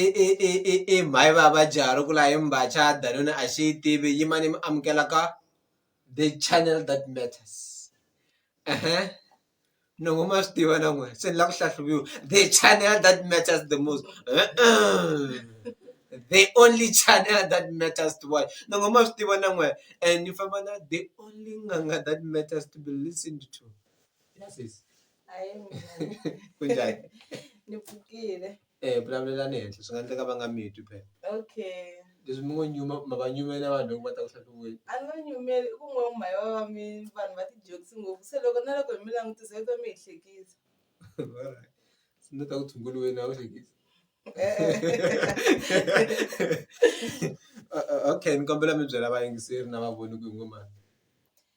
i i i i i mhayi va va jahha ku la hi mbacha danuna a xi yi tivi yimani mi amukela ka the channel that matters ehe nongo ma swi tiva na n'we se ni la ku hlahluviwa the channel that matters the most the only channel that matters to watch nongo ma swi tiva na n'we and ni famba na the only n'anga that matters to be listened to yes Hayi ku njhani ni pfukile e vulavulelani henhla swi nga endleka va nga mi twi phela okay leswi mi ngo nyuma ma va nyumela vanhu loko va ta ku hlahluweni a ni va nyumeli i ku n'we mhaya va va mi vanhu va ti-jokes ngopfu se loko na loko hi mi langutisa yi twa mi hi hlekisa se ni ta ku tshunguriweni a wu hlekisi okay ni kombela mi byela vayingiseri na vavoni ku hi ngo mani.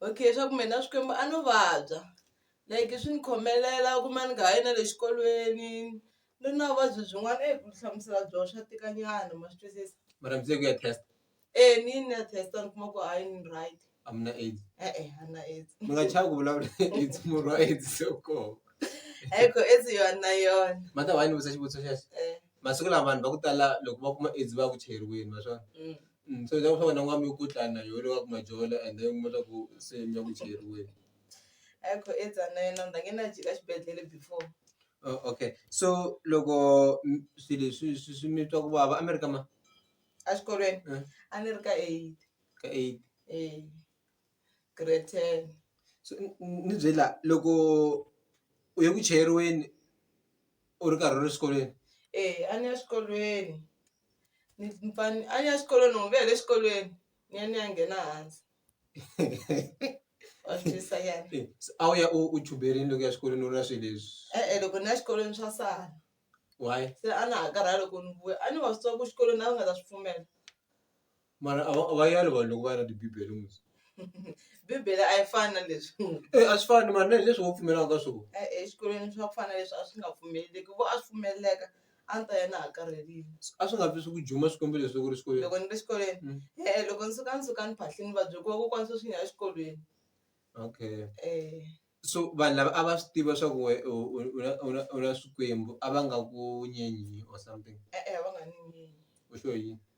Okay swa ku me na Xikwembu a no vabya like swi ni khomelela u kuma ni nga ha yi na le xikolweni ni ri na vuvabyi byin'wana eyi ku ti hlamusela byo swa tika nyana ma swi twisisa. Mara mi ze ku ya test? E ni yini ni ya test ni kuma ku hayi ni right. A mi na AIDS? E-e a ni na AIDS. Mi nga chavi ku vulavula AIDS murhi wa AIDS se wu kona. Hayi ko AIDS yona na yona. Mother why ni vutisa xivutiso xexo? masiku lama vanhu va ku tala loko va kuma AIDS va ya ku cheriweni ma swa so leswaku swa wena u nga mi ku dlaya na yo leyi nga ku majola and then u kuma swa ku se mi ya ku cheriweni. Oh okay so loko swi leswi swi swi mi twa ku vava a mi ri ka ma ka eight so ni byela loko u ye ku cheriweni. u ri karhi u ri xikolweni eya a ni ya xikolweni ni pfani a ni ya xikolweni loko ni vuya hi le xikolweni ni ya ni ya nghena hansi wa swi twisisa nyana Eh, se a wu ya u u chuberini loko u ya xikolweni u ri na swilo leswi e-e loko ni ya xikolweni swa sala why se a na ha karhala loko ni vuya a ni wa swi tiva ku xikolweni a va nga ta swi pfumela mara a va a va yali vanhu loko va ya na tibibele ngopfu bibele a yi fani na leswi e a swi fani mara na hi leswi wo pfumelaka ka swona e- exikolweni swa ku fana leswi a swi nga pfumeleleki vo a swi pfumeleleka a ni ta ya na ha karhelile a swi nga vi swi ku juma swikombi leswi loko ri xikolweni loko ni ri xikolweni Mm. e-e loko ni suka ni suka ni phahlini va byela ku vakokwana sweswi ni ya exikolweni okay um so vanhu lava a va swi tiva swa ku we u u- u na- u na- u na swikwembu a va nga ku nyenyi or something e-e a va nga ni nyinyi u sure yini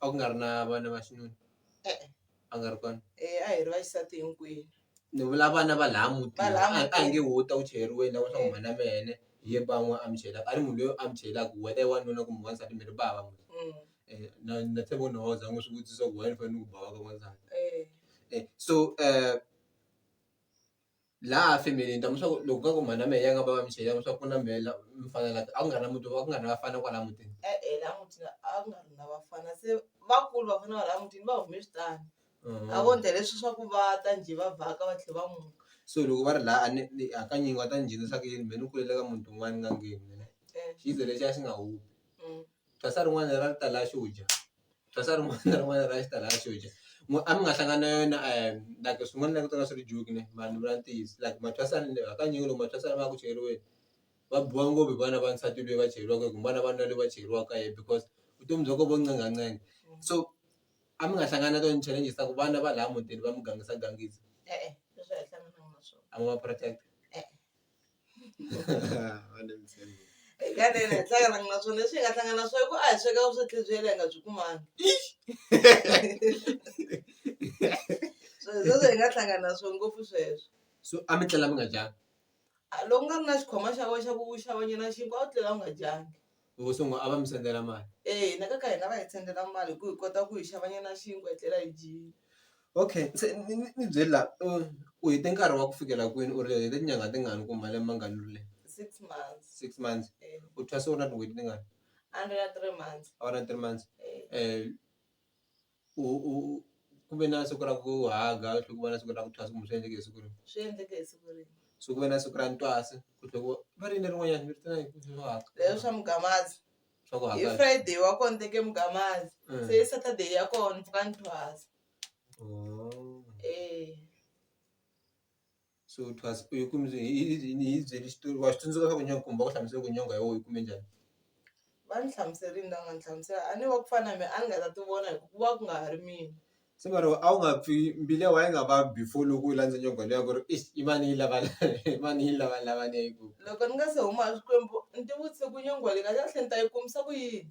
a ku nga ri na vana va xinuna e-e a nga ri kona eya a hi ri vaxisati hinkwenu ni vula vana va laha mutini a a hi nge wo ta wu chayeriweni la wa swa ku mhana me ene hi ye ba n'we a mi chayela a ri munhu loyi a mi chayelaka whether i wanuna kumbe wansati mi ri ba va n'we na na tshemba ku na wena u za u n'wi swi vutisa ku why ni fanele ni ku ba wa ka n'wansati so . laha family-ni ni ta mi swa ku loko ka ku mhana mehe a nga va va mi xele swa ku na mehe la mi fana la a ku nga ri na muti a ku nga ri na vafana kwala mutini. E-e la mutini a ku nga ri na vafana se vakulu vafana va la mutini va hume switandi a vo ndla leswi swa ku va ta njhe va vhaka va tlhe va muka. So loko va ri la a ni ni hakanyingi va ta ni nghenisa ku yini me ni kulele ka muti wun'wani ni nga ngheni mina xizwe lexiya xi nga humi. Thwasa rin'wana ra ri ta la xo dya thwasa rin'wana na rin'wana ra xi ta la xo dya a mi nga hlangani na yona like swin'wana ni langutaka swi ri joke ne mara ni vula ntiyiso like mathwasa hakanyingi loko mathwasa lama ya ku chayeriweni va biwa ngopfu hi vana va nsati lweyi va chayeriwaka hi ku vana va lweyi va chayeriwaka hi yena because vutomi bya ko vo ncenga ncenga so a mi nga hlangani na tona ti-challenges ta ku vana va laya mutini va mi gangisa gangisa e-e a wu ma protect-a e-e. Hi nga tlhela hi hlangana na swona leswi hi nga hlangana na swona i ku a hi sweka vuswekeri bya yena hi nga byi kumanga so hi sweswo hi nga hlangana na swona ngopfu sweswo so a mi tlela mi nga dyanga a loko u nga ri na xikhwama xa wena xa ku xavanyana xinkwa a wu tlela u nga dyanga hi ngo sungula a va mi sendela mali eya hina ka ka hina va hi sendela mali hi ku hi kota ku hi xava nyana xinkwa hi tlela hi dyile. Okay se ni ni ni byeli la u u hete nkarhi wa ku fikela kwini u ri u hete tinyangha tingani kumbe malembe mangani u ri le Six months six months eya u thwase u ri na tin'hweti tingani a ni ri na three months a wu ri na three months eya. u u ku ve na siku ra ku haga ku tlhe ku va na siku ra ku thwasa kumbe swi endleke hi siku rihi? Swi endleke hi siku rihi? So ku ve na siku ra ntwasa ku tlhe ku va ri yini lerin'wanyani ni ri tiva hi swo haga. Leswi swa mugamaza Swa ku hi haga Friday wa kona ni teke mugamaza se hi Saturday ya kona ni pfuka ni thwasa oh. e. so it was hi ku hi hi byeli xitori wa swi tsundzuka swa ku nyangha kumba ku hlamusela ku nyangha ya wena yi kume njhani. Va ni hlamuserile ni la nga ni hlamusela a ni wa ku fana na mehe a ni nga ta ti vona hi ku ku va ku nga ha ri mina. Se mara wena a wu nga pfi mbilu ya wena a yi nga vavi before loko u landza nyangha liya ku ri eish i mani yi lava la i mani yi lava lava leyi ku. Loko ni nga se huma a Xikwembu ni tivutise ku nyangha leyi kahlekahle ni ta yi kumisa ku yini.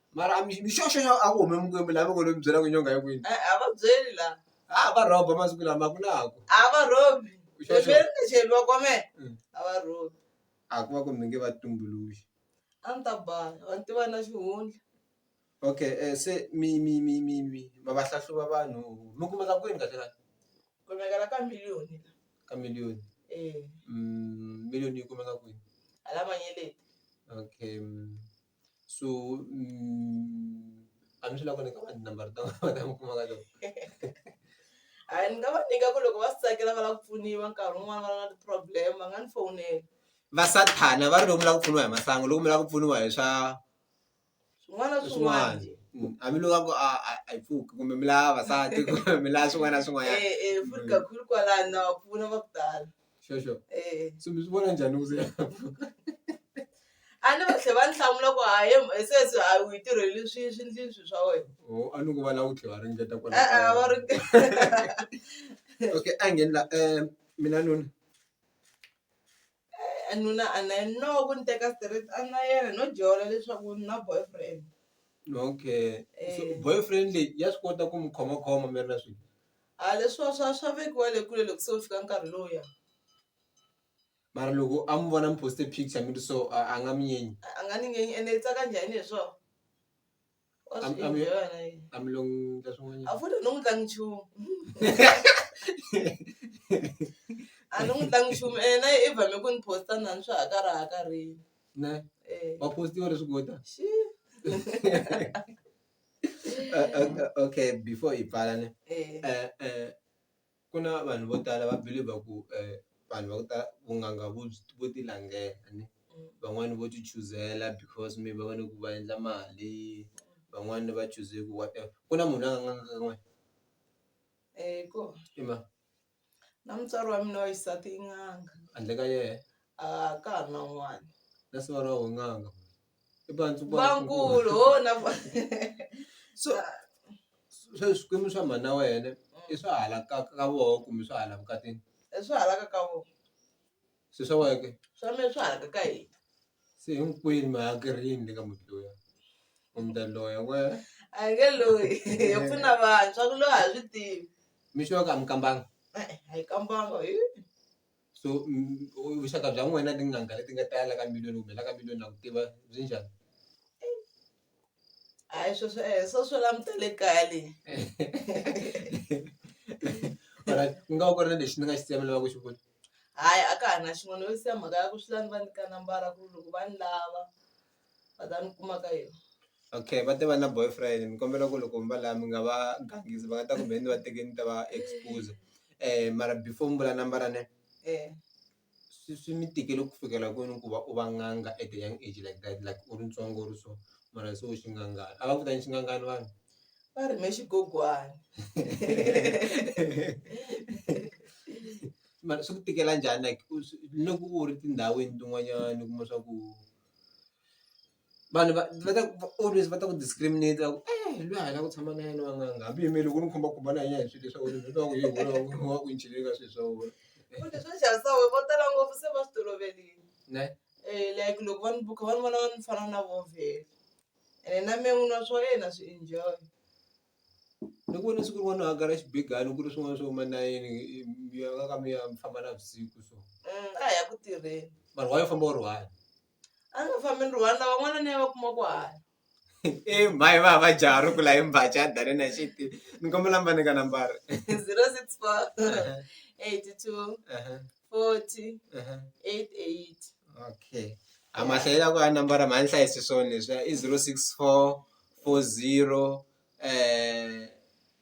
mara a mi- mixoxo xo a ku hume mukwembu laha mi ngo lo mi byela ku nyonga yi kwini Eh, a va byeli la a va rhoba masiku lama ku na ku a va rhobi Sure, sure. beberi ni cheli va kome Mm. a va rhobi a ku va ku mi nge va tumbuluxi a ni ta baya va ni tiva na xihundla okay um se mi mi mi mi mi ma va hlahluva vanhu mi kumeka kwini kahle kahle kumekela ka miliyoni la ka miliyoni eh Mm, miliyoni yi kumeka kwini hala manyeleti okay mm. so mm, a ni swi lava ku nyika vanhu number ta vona mi kuma ka loko a ni nga va nyika ku loko va swi tsakela va lava ku pfuniwa nkarhi wun'wana va ri na ti-problem va nga ni fowunela va sathana va ri loko mi lava ku pfuniwa hi masangu loko mi lava ku pfuniwa hi swa swin'wana na swin'wana swin'wana Mm, hambi loko a ku a a- a yi pfuki kumbe mi lava vavasati kumbe mi lava swin'wana na swin'wanyana Eh, eh, futhi Mm. kakhulu kwalano na va pfuna va ku tala sure sure eh so mi swi vona njhani loko se ya pfuka a ni va tlhe va ni hlamula ku hayi hi sweswi a wu yi tirheli swi swindlini swi swa wena oh a ni ku va la wu tlhe va ringeta kwala e-e va ri okay a ngheni la um mina nuna Eh, nuna a na yena no ku ni teka straight a na yena no jola leswaku ni na boyfriend okay so Eh. boyfriend leyi ya swi kota ku mi khomakhoma mi ri na swilo A leswiwa swa swa vekiwa le kule loko se wu fika nkarhi lowuya mara loko a mi vona mi post-e picture mi ri so a a nga mi nyenyi a nga ni ngenyi ene i tsaka njhani hi swona wa A- swi a mi- enjoy-a na yena a mi lo n'wi endla a swin'wanyana futhi a no n'wi tlangi nchumu a no n'wi tlangi nchumu ene na yena i vame ku ni post-a na ni swa ha karhi ha karhile ne um wa post-iwa leswi kota xi okay before hi pfala ne ku na vanhu vo tala va believer ku vanhu va ku tala vun'anga vo vo ti langela ne van'wani vo ti chuzela because maybe va vona ku va endla mali van'wani va chuze ku whatever ku na munhu la nga n'anga ka n'wina i mani. Na mutswari wa mina wa xisati i n'anga. Handle ka yena. A ka ha ri na un'wana. Na siva ra wena n'anga. I bantu va. Vankulu ho na va. So sweswi swikwembu swa mhana wena i swa hala ka ka voho kumbe swa hala vukatini. I swa hala ka ka voho. Se swa wena ke. Swa mina swa hala ka ka hina. Se hinkwenu mi hakela yini le ka muti luya? U mi ta loya wena. A hi nge loyi hi pfuna vanhu swa ku loyi a hi swi tivi. Mi sure ku a mi kambanga? E-e a hi kambanga hi. So vuxaka bya n'wina na tin'anga leti nga ta ya la ka miloni kumbe la ka miloni na ku tiva byi njhani? hayi sweswo e swo swo languta le kaya le alright ku nga va ku ri na lexi ni nga xi siya mi lava ku xi vula hayi a ka ha na xin'wana yo siya mhaka ya ku swi la ni va nyika nambara ku loko va ni lava va ta ni kuma ka yona okay va te va na boyfriend ni kombela ku loko mi va la mi nga va gangisi va nga ta kumbe ni va teke ni ta va expose mara before mi vula nambara ne . swi swi mi tikele ku fikela kwini ku va u va n'anga at a young age like that like u ri ntsongo u ri so mara se u xinghangani a va ku ta yini xinghangani vanhu va ri me xigogwana mara swi ku tikela njhani like u swi loko u ri tindhawini tin'wanyani u kuma swa ku. vanhu va va ta always va ta ku discriminate ku eh lweyi a hi la ku tshama na yena n'wananga hambi yime loko ni khumba ku va na yena hi swilo leswa wena ni twa ku yini wena wa ku ni chele ka swilo swa wena futhi swo xavisa we vo tala ngopfu se va swi toloverile ne um like loko va ni buka va ni vona ni fana na vo vhele ene na me n'wini wa swa yena swi enjoy ni ku vona siku rin'wana a gara xibigani ku ri swin'wana swo ma nayeni mi ya ka ka mi ya mi famba na vusiku so Mm, a hi ya ku tirheni vanhu wa yo famba u ri one a nga fambi ni one lava n'wana ni ya va kuma ku hanya e mhayi va va jaha ri kula hi mbaca a dane na xiti ni kombela mba ni ka nambara zero six four eighty two forty eight eight okay a mahlayela ku a nambara mhani hlayisi swona leswi i zero six four four zero um